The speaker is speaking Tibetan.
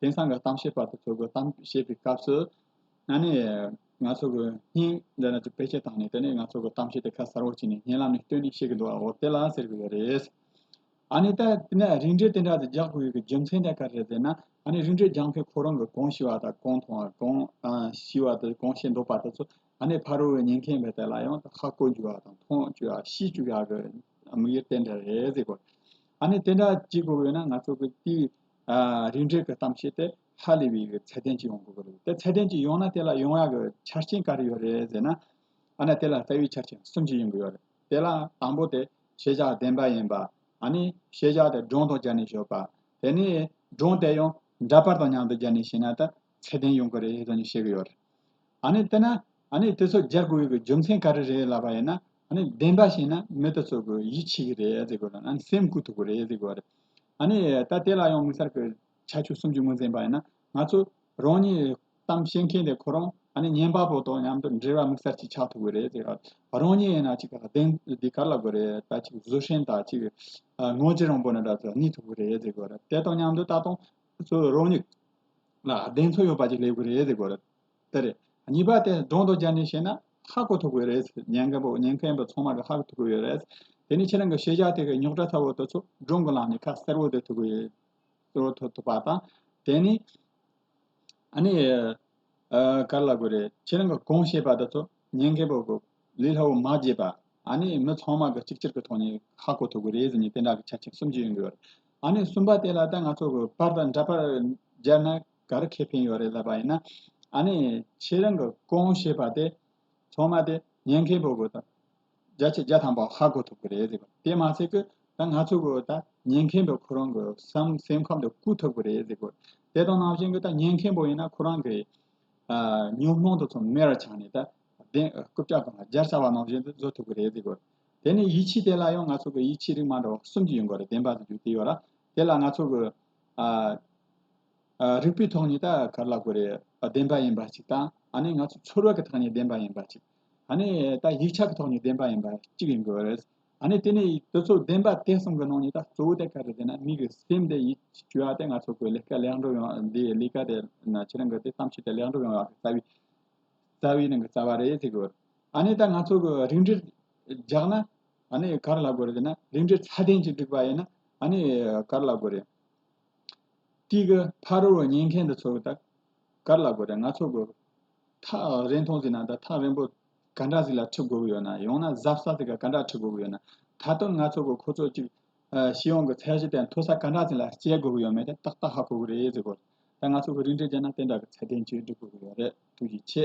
དེང་སང་གི་གཏམ་བཤད་པ་དེ་ཚོ་གི་གཏམ་བཤད་པའི་སྐབས་སུ། ན་ནི། ང་ཚོ་གི་སྙིང་འདི་ན་ཅིག་བེད་སྤྱད་བཏང་ནས་དེ་ནས་ང་ཚོ་གི་གཏམ་བཤད་དེ་ཁ་གསར་བོ་བྱས་ནས་སྙན་ལམ་ནས་སྟོན་ནས་བཤད་གི་འདུག་ཨ་འོ་དེ་ལ་ཟེར་གི་ཡོད་རེད། ཨ་ནི་ད་དེ་ནས་རིན་བྲལ་དེ་འདྲ་དེ་རྒྱག་དགོས་ཡོད་གི་རྒྱུ་མཚན་དེ་ག་རེད་ཟེར་ན། ཨ་ནི་རིན་བྲལ་རྒྱག་མཁན་ཁོ་རང་གི་གང་ཤི་བ་དང་གང་མཐོང་བ་གང་ཤི་བ་དང་གང་བཤད་འདོད་པ་དེ་ཚོ་ཨ་ནི་ཕ་རོལ་བའི་ཉན་མཁན་བས་དེ་ལ་ཡང་ཁ་བསྐོར་རྒྱུ་བ་དང་མཐོང་བཅུག་ཡ་ཤི་བཅུག་ཡ་གི་དམིགས་ཡུལ་དེ་འདྲ་རེད་ཟེར་གི། ཨ་ནི་དེ་འདྲ་བྱེད་དགོས་ཡོད་ན་ང་ཚོ་གི་དེའི་རིན་བྲལ་གྱི་གཏམ་བཤད་དེ་ཧ་ལས་པའི་ཚད་ལྡན་གཅིག་ཡོང་དགོས་པ་རེད་དེ་ཚད་ལྡན་གཅིག་ཡོང་ན་དེ་ལ་ཡོང་ཡག་གི་ཆ་རྐྱེན་ག་རེ་ཡོད་རེད་ཟེར་ན་ཨ་ན་དེ་ལ་རྩ་བའི་ཆ་རྐྱེན་གསུམ་ཅིག་ཡོང་གི་ཡོད་རེད་དེ་ལ་དང་པོ་དེ་ཤེས་བྱ་བདེན་པ་ཡིན་པ་ཨ་ནི་ཤེས་བྱ་དེ་སྒྲུང་དང་སྦྱར་ནས་ཤོད་པ་དེ་ནས་སྒྲུང་དེ་ཡང་འདྲ་པར་དང་མཉམ་དུ་སྦྱར་ནས་བཤད་ན་ད་ཚད་ལྡན་ཡོང་གི་རེད་ཟེར་ནས་བཤད་གི་ཡོད་རེད་ཨ་ནི་དེ་ན་ཨ་ནི་དེ་ཚོ་སྦྱར་དགོས་ཡོད་གི་རྒྱུ་མཚན་ག་རེ་རེད་ལབ་པ་ཡིན་ན་ཨ་ནི་བདེན་པ་བཤད་ན་མི་དེ་ཚོ་གི་ཡིད་ཆེས་གི་རེད་ཟེར་དགོས་ལ་ཨ་ནི་སེམས་སྐུལ་ཐུབ་གི་རེད་ཟེར་དགོས་པ་རེད། ཨ་ནི། ད་དེ་ལ་ཡང་དམིགས་བསལ་གྱི་ཁྱད་ཆོས་གསུམ་གྱི་ངོས་འཛིན་པ་ཡིན་ན། ང་ཚོ་རང་ཉིད་གཏམ་བཤད་མཁན་དེ་ཁོ་རང་ཨ་ནི་ཉན་པ་པོ་དང་མཉམ་དུ་འབྲེལ་བ་དམིགས་བསལ་གྱིས་ཆགས་ཐུབ་ཀྱི་རེད། རང་ཉིད་ཡིན་ན་གཅིག་ག་ལ་བདེན་འདི་ག་ལ་དགོས་རེད་ད་གཅིག་བཟོད་བསྲན་དང་གཅིག་ངོ་རྗེ་རང་བོ་ནས་འདྲ་ཚོ་གཉིས་ཐུབ་ཀྱི་རེད། དེ་དང་མཉམ་དུ་ད་དུང་རང་ཉིད་ལ་བདེན་འཚོལ་ཡོད་པ་ཅིག་སླེབས་ཀྱི་རེད། དེ་རེད། གཉིས་པ་དེ་སྒྲོ་འདོགས་བརྒྱབ་ནས་བཤད་ན། ཧ་གོ་ཐུབ་གི་རེད། ཉན་མཁན་པོ་ཉན་མཁན་པོ་ཚང་མ་གི་ཧ་གོ་ཐུབ་གི་ཡོད་རེད། དེ་ནི་ཁྱེད་རང་གི་ཤེས་བྱ་དེ་གི་རྙོག་དྲ་ཚ་བོ་དེ་ཚོ་སྒྲོ་འགོ་ལངས་ནས་ཁ་གསལ་བོ་དེ་ཐུབ་གི་ཡོད། གསལ་བོ་ཐུབ་པ་དང། དེ་ནི། ཨ་ནི། ག་རེ་ལ་དགོས་རེད། ཁྱེད་རང་གི་གོང་བཤད་པ་དེ་ཚོ་ཉན་མཁན་པོ་གི་ལས་སླ་བོ་མ་བརྗེད་པ། ཨ་ནི་མི་ཚང་མ་གི་གཅིག་གྱུར་གི་ཐོག་ནས་ཧ་གོ་ཐུབ་གི་རེད་ཟེར་ནས་དེ་འདྲ་གི་ཆ་རྐྱེན་གསུམ་གྱི་ཡོང་གི་ཡོད་རེད། ཨ་ནི་གསུམ་པ་དེ་ལ་ད་ང་ཚོ་གི་པར་དང་འདྲ་པར་སྦྱར་ན། ག་རེ་ཁེ་ཕན་ཡོད་རེད་ལབ་པ་ཡིན་ན། ཨ་ནི་ཁྱེད་རང་གི་རྐོང་ཞེས་པ་དེ་ཚང་མ་དེ་ཉན་མཁན་པོ་གོ་ད་རྒྱ་ཆེ་རྒྱ་ཐང་པོ་ཧ་གོ་ཐུབ་ཀྱི་རེད་ཟེར་དེ་མ་ཚད་ཀྱི་ད་ང་ཚོ་གོ་ད་ཉན་མཁན་པོ་ཁོ་རང་གི་བསམ་སེམས་ཁམས་དུ་བཀུག་ཐུབ་ཀྱི་རེད་ཟེར་གོ་དེ་དང་ནང་བཞིན་གྱི་ད་ཉན་མཁན་པོ་ཡིན་ན་ཁོ་རང་གི་ཉོན་མོངས་དུ་ཚང་མེར་ཆག་ནས་ད་བདེན་རྐུབ་ལྕག་དང་སྦྱར་ཚར་བ་ནང་བཞིན་དུ་བཟོ་ཐུབ་ཀྱི་རེད་ཟེར་གོ་དེ་ནི་ཡིད་ཆེས་དེ་ལ་ཡང་ང་ཚོ་གི་ཡིད་ཆེས་རིགས་མ་འདྲ་བ་གསུམ་གྱི་ཡོད་གོ་རེད་བདེན་པ་དུ་རྒྱུ་དེ་ཡོད་ར་དེ་ལ་ང་ཚོ་གི། རིག་པའི་ཐོག་ནས་ད་ག་ལ་དགོས་རེད་བདེན་པ་ཡིན་པ་གཅིག་དང་ཨ་ནི་ང་ཚོ་ཚོར་བ་གི་ཐག་ནས་བདེན་པ་ཡིན་པ་གཅིག་ཨ་ནི་ད་ཡིག་ཆ་གི་ཐོག་ནས་བདེན་པ་ཡིན་པ་གཅིག་ཡིན་དགོས་རེད་ཨ་ནི་དེ་ནས་དེ་ཚོ་བདེན་པ་དེ་གསུམ་གི་ནང་ནས་ད་གཙོ་བོ་དེ་ག་རེད་ཟེར་ན་མིག་གི་སེམས་དེ་ཡིད་ཀྱི་སྐྱོ་བ་དེ་ང་ཚོ་དགོས་ལས་ཀ་ལེགས་འགྲུབ་ཡོང་འདིའི་ལས་ཀ་དེ་ཁྱེད་རང་གི་དེ་བསམ་ཤེས་དེ་ལེགས་འགྲུབ་ཡོང་བ་རྩ་བའི་རྩ་བའི་ནང་གི་རྩ་བ་རེད་ཟེར་དགོས་ཨ་ནི་ད་ང་ཚོ་གི་རིགས་འགྲེ་རྒྱག་ན་ཨ་ནི་ག་རེ་ལ་དགོས་རེད་ཟེར་ན་རིགས་འགྲེ་ཚད་ལྡན་གྱི་བསྒྲིགས་པ་ཡིན་ན་ཨ་ནི་ག་རེ་ལ་དགོས་རེད་ཀྱི། ཕ་རོལ་བོ་ཉན་མཁན་དུ་ཚོལ་བ་དག། གར་ལ་དགོས་དེ་ང་ཚོ་དགོས། ཐག་རིང་མཐོང་ཟིན་ན་དང་ཐག་རིང་པོ་ག་འདྲ་ཟིག་ལ་ཁྲིད་དགོས་ཀྱི་ཡོད་ན་ཡང་ན་གཟབ་ས་ཟིག་ག་འདྲ་ཁྲིད་དགོས་ཀྱི་ཡོད་ན། ད་དུང་ང་ཚོ་དགོས་ཁོ་ཚོ་གཅིག། ཤི་ཡོང་གི་ཚད་གཞི་དེ་མཐོ་ས་ག་འདྲ་ཟིག་ལ་བསྐྱལ་དགོས་ཀྱི་ཡོད་མེད་དེ་ཏག་ཏག་ཧ་གོ་གི་རེད་ཟེར་དགོས། ད་ང་ཚོ་གི་རིན་བྲིས་བསྐྱལ་ན་དེ་འདྲ་གི་ཚད་ལྡན་གཅིག་སྒྲིག་དགོས་ཀྱི་ཡོད་རེད་ཐུགས་རྗེ་ཆེ།